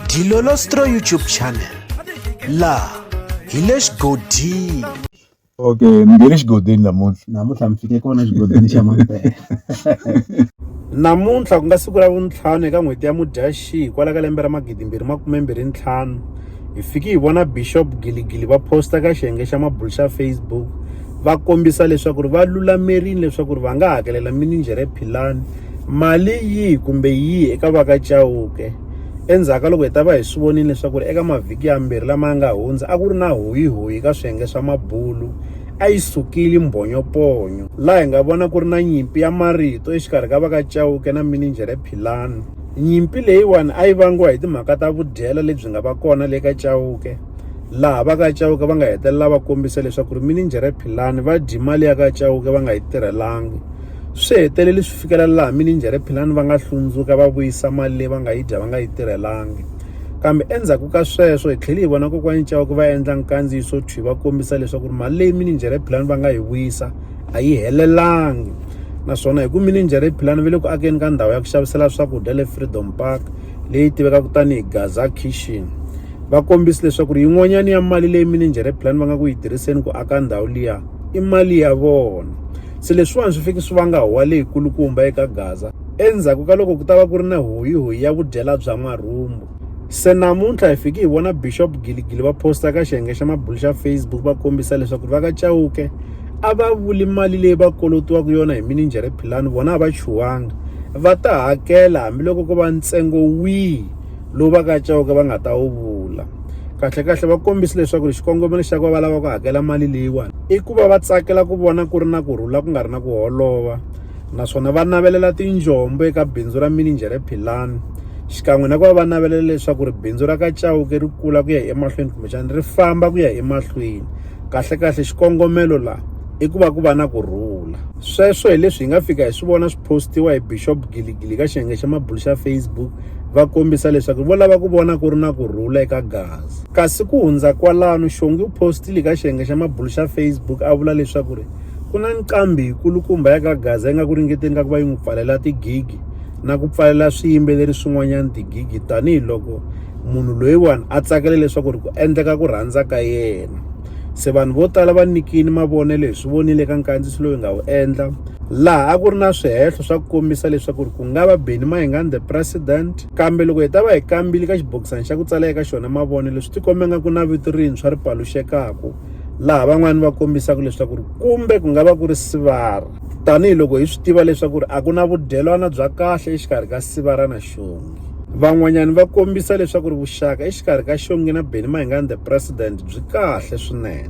Dilolostro YouTube channel laha hi le xigodini okay ni nge le xigodini namuntlha namuntlha mi fike kona xigodini xa mampela namuntlha ku nga siku ra vuntlhanu eka n'hweti ya mudyaxihi kwala ka lembe ra magidimbirhi makumembirhi ntlhanu hi fiki hi vona bishop giligili va posta ka xiyenge xa mabulu xa facebook va kombisa leswaku ri va lulamerile leswaku ri va nga hakelela mininjhere philani Mali yihi kumbe yihi eka va ka Chauke. Endzhaku ka loko hi ta va hi swi vonile leswaku eka mavhiki yambirhi lama nga hundza a ku ri na hoyihoyi ka swiyenge swa mabulu, a yi sukile mbhonyoponyo laha hi nga vona ku ri na nyimpi ya marito exikarhi ka va ka Chauke na mininjhere Philani. Nyimpi leyiwani a yi vangiwa hi timhaka ta vudyela lebyi nga va kona le ka Chauke, laha va ka Chauke va nga hetelela va kombise leswaku ri mininjhere Philani va dye mali ya ka Chauke va nga yi tirhelangi. Swi hetelele swi fikelela laha mininjhere philani va nga hlundzuka va vuyisa mali leyi va nga yi dya va nga yi tirhelangi. Kambe endzhaku ka sweswo hi tlhele hi vona kokwani Chauke va endla nkandziyiso thwi va kombisa leswaku ri mali leyi mininjhere philani va nga yi vuyisa a yi helelangi naswona hi ku mininjhere philani va le ku akeni ka ndhawu ya ku xavisela swakudya le Freedom Park leyi tivekaka tanihi Gaza Kitchen va kombisa leswaku ri yin'wanyana ya mali leyi mininjhere philani va nga ku yi tirhiseni ku aka ndhawu liya i mali ya vona se leswiwani swi fike swi vanga huwa leyikulukumba eka gaza endzhaku ka loko ku ta va ku ri na hoyihoyi ya vudyela bya n'warhumbu se namuntlha hi fike hi vona bishop giligili va posta ka xiyenge xa mabulu xa facebook va kombisa leswaku va ka chawuke a va vuli mali leyi va kolotiwaka yona hi mininjhere philani vona a va chuwanga va ta hakela hambiloko ko va ntsengo wihi lowu va ka Chauke va nga ta wu vula kahlekahle va kombise leswaku xikongomelo xa ku va va lava ku hakela mali leyiwani i ku va va tsakela ku vona ku ri na ku rhula ku nga ri na ku holova naswona va navelela tinjombo eka bindzu ra mininjhere philani xikan'we na ku va va navelela leswaku ri bindzu ra ka Chauke ri kula ku ya emahlweni kumbexana ri famba ku ya emahlweni kahlekahle xikongomelo laha i ku va ku va na ku rhula sweswo hi leswi hi nga fika hi swi vona postiwa hi Bishop Giligili ka xiyenge xa mabulu xa Facebook va kombisa leswaku vo lava ku vona ku ri na ku rhula eka gazi kasi ku hundza kwalano xongi u postile ka xiyenge xa mabulu xa Facebook a vula leswaku ri ku na nqambi yikulukumba ya ka gaza yi nga ku ringeteni ka ku va yi n'wi pfalela tigigi na ku pfalela swiyimbeleri swin'wanyana tigigi tanihiloko munhu loyiwani a tsakele leswaku ri ku endleka ku rhandza ka yena se vanhu vo tala va nikini mavonelo hi swi vonile ka nkandziso loyi nga wu endla laha a ku ri na swihehlo swa ku kombisa leswaku ku nga va Benny Mayengani the president kambe loko hi ta va hi kambile ka xibokisana xa ku tsala eka xona mavonelo swi tikombe nga ku na vito rintshwa ri paluxekaka laha van'wani va kombisaka leswaku ri kumbe ku nga va ku ri sivara tanihiloko hi swi tiva leswaku ri a ku na vudyelwana bya kahle exikarhi ka sivara na xongi van'wanyani va kombisa leswaku ri vuxaka exikarhi ka xongi na benimahingani the president byi kahle swinene